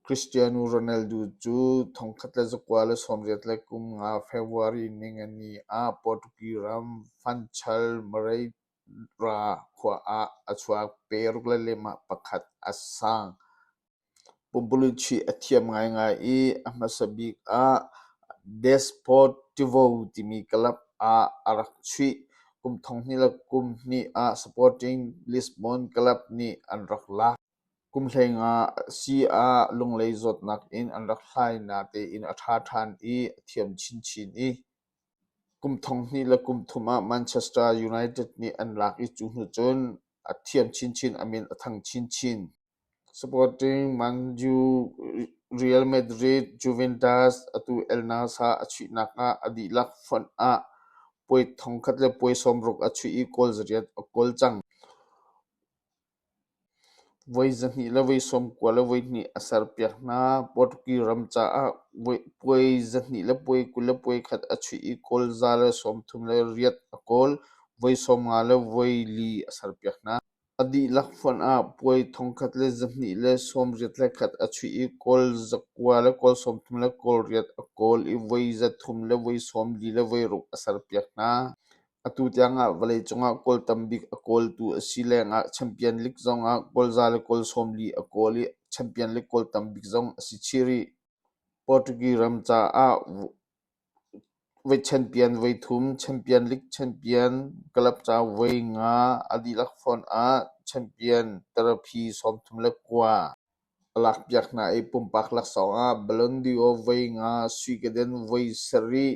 Cristiano Ronaldo cu thongkhat le zakua le sawmriat le kum nga February ningani ah Portuguese ram Fanchal Moreira khua ah a chuak, paruk le limah pakhat a sang. Pumpulichi a thiam ngaingai i a hmasa bik ah Desportivo timi club ah a rak chuih. Kum thonghnih le kum hnih ah Sporting Lisbon club nih an rak lak. Kum hleinga a si ah Lunglei zawtnak in an rak hlai natein a ṭha ṭhan i a thiam chinchin i kum thonghnih le kum thum ah Manchester United nih an lak i cu hnu cun a thiam chinchin a min a thang chinchin. Sporting Man U, Real Madrid, Juventus atu El Nassr a chuihnak ah a dihlak fonh ah puai thongkhat le puai sawmruk a chuih i goal zariat a kawl cang. Voi zahnih le voi sawm kua le voi hnih a serpiak hna. Portuguese ram caah puai zahnih le puai kul le puai khat a chuih i kawl za le sawmthum le riat a kawl. Voi sawmnga le voi li a serpiak hna. A dihlak fonh ah puai thongkhat le zahnih le sawmriat le khat a chuih i kawl za kua le kawl sawmthum le kawl riat a kawl i voi zathum le voi sawm li le voi ruk a serpiak hna. Atu tiangah vawleicung ah goal tambik a kawltu a si lengah Champion League zongah goalza le goal sawmli a kawl i Champion League goal tambik zong a si chih rih. Portuguese ram caah voi champion voi thum, Champion League champion, club ca voi nga a dihlak font ah champion tarapi sawmthum le kua a lakpiak hna i pumpak laksawng ah Ballon d'Or voi nga, Sweden voi sarih,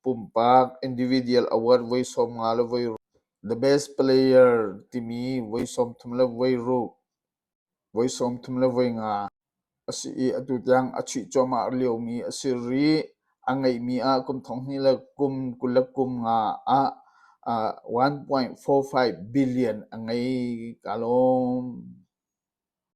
Pumpak individual award voi sawm nga le voi ruk. The Best Player timi voi sawmthum le voi ruk, voi sawmthum le voi nga a si i atu tiang a chuih cuahmah liomi a si rih. A ngeihmi ah kum thonghnih le kum kul le kum nga ah uh, 1.45 billion a ngei kaa lawm.